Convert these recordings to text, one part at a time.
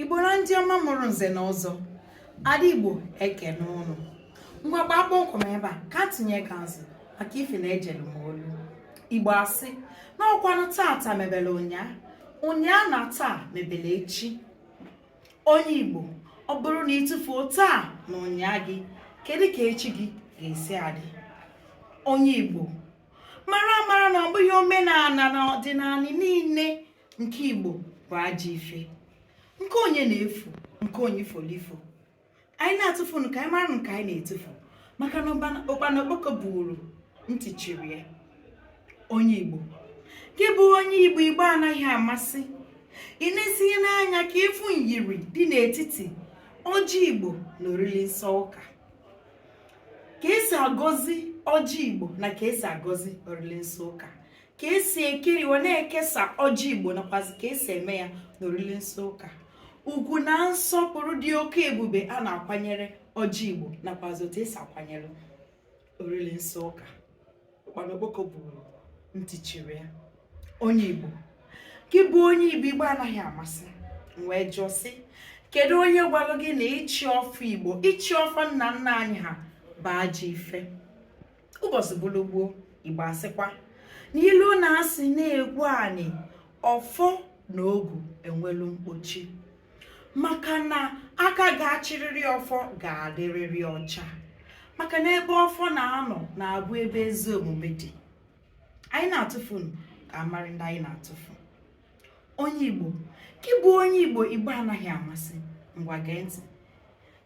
igbo na ndị ọma mụrụ nze na ọzọ ada igbo ekene ụnụ ngwa gbaa kpọmkwem ebe a ka tinye ka nzi maka ife na ejelu m olu igbo asị na ọkwanụ tata mebere ụnyaa ụnyaa na taa mebere echi onye igbo ọ bụrụ na ị tụfuo taa na ụnyaa gị kedu ka echi gị ga-esi adị onye igbo mara amara na ọ bụghị omenala na ọdịnala niile nke igbo bụ ajọ ife nke onye na-efu nke onye folifo anyị na-atụfunu ka anyị mara nke anyị na-etufu maka na ụkpana okpoko buru ntị chiri ya onye igbo gị bụ onye igbo igbo anaghị amasị i neziela anya ka ị fụ nyiri dị n'etiti ọjị igbo na oriri nsọ ụka ka esi agọzi ọjị igbo na ka esi agọzi oriri nsọ ụka ka esi ekeri wee na-ekesa ọjị igbo nakwazi ka esi eme ya n'oriri nsọ ụka ugwu na nsọpụrụ dị oke ebube a na-akwanyere ọjị igbo nakwazi otu esi akwanyere oriri nsọ ụka ụkpana okpoko buru ntị chiri ya onye igbo gị bụ onye igbo igbo anaghị amasị wee jụọ sị kedu onye gwara gị na ịchị ọfọ igbo ịchị ọfọ nna nna anyị ha bụ ajọ ife ụbọchị bụrụ gboo igbo asịkwa n'ilu na-asị na-egwu anị ọfọ na ogu enwelu mkpochi maka na aka ga-achịrịrị ọfọ ga-adịrịrị ọcha maka na ebe ọfọ na-anọ na-abụ ebe ezi omume dị anyị na-atụfu ka a mara ndị anyị na-atụfu onye igbo gị bụ onye igbo igbo anaghị amasị ngwa gee ntị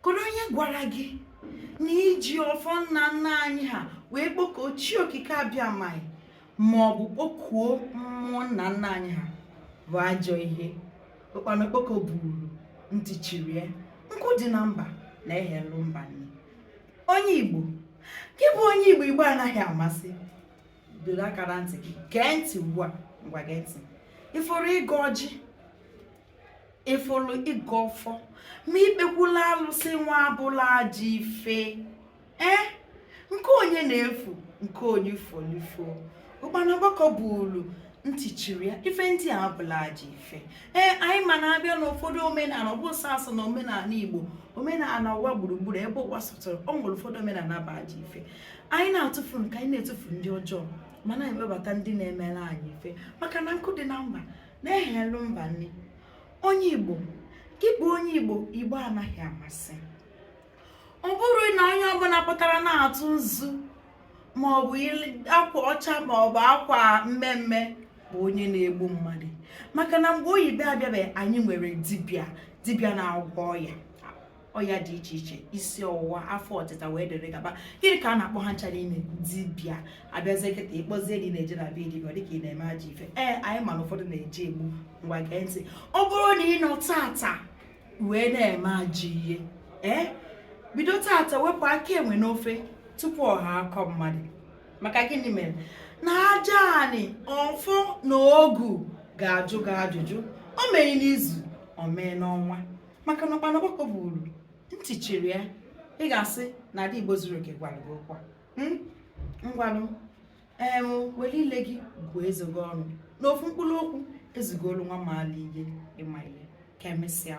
kedu onye gwara gị na iji ọfọ nna nna anyị ha wee kpọkuo chi okike abịama ma ọ bụ kpọkuo mmụọ nna nna anyị ha bụ ajọ ihe ụkpana okpoko buru ntị chiri ya nkụ dị na mba na-eghelu mba nni onye igbo gị bụ onye igbo igbo anaghị amasị dọrọ aka na ntị gị gee ntị ugbu a ngwa gee ntị ị fụrụ ịgọ ọjị ị fụrụ ịgọ ọfọ ma ikpekwulu alụsị nwa abụrọ ajọ ife ee eh? nke onye na-efu nke onye folifo ụkpana okpoko buru ntị chiri ya ife ndị a abụrọ ajọ ife ee eh, anyị ma na a bịa n'ụfọdụ omenala ọ bụ sọsọ na omenala igbo omenala ụwa gburugburu ebe ụwa sọtụrụ ọ nwere ụfọdụ omenala bụ ajọ ife anyị na-atụfu nke anyị na-etufu ndị ọjọọ ma na-ewebata ndị na-emere anyị ife maka na nkụ dị na mba na-eghelu mba nni onye igbo gị bụ onye igbo igbo anaghị amasị ọ bụrọ na onye ọbụla pụtara na-atụ nzu maọbụ akwa ọcha maọbụ akwa mmemme bụ onye na-egbu mmadụ maka na mgbe oyibo abịabeghị anyị nwere dibịa dibịa na-agwọ ọya ọya dị iche iche isi ọwụwa afọ ọtịta wee dịrị gaba gịnị ka a na-akpọ ha ncha niine dibịa a bịazie kịta ị kpọzie ndị na-eje na be dibịa dịka ị na-eme ajọ ife ee anyị ma na ụfọdụ na-eji egbu ngwa gee ntị ọ bụrụ na ị nọ tata wee na-eme ajọ ihe ee bido tata wepụ aka enwe n'ofe tupu ọ ghọọ aka mmadụ maka gịnị mere na aja anị ọfọ na ogu ga-ajụ gị ajụjụ o meghị n'izu o mee n'ọnwa maka na ụkpana okpoko buru ntị chiri ya ị ga-asị na ada igbo zuru oke gwara gị okwu hmm? ngwanụ ee were ile gị gụọ eze gị ọnụ n'ofu mkpụrụ okwu ezugolu nwa maala ihe ịma ihe ka emesịa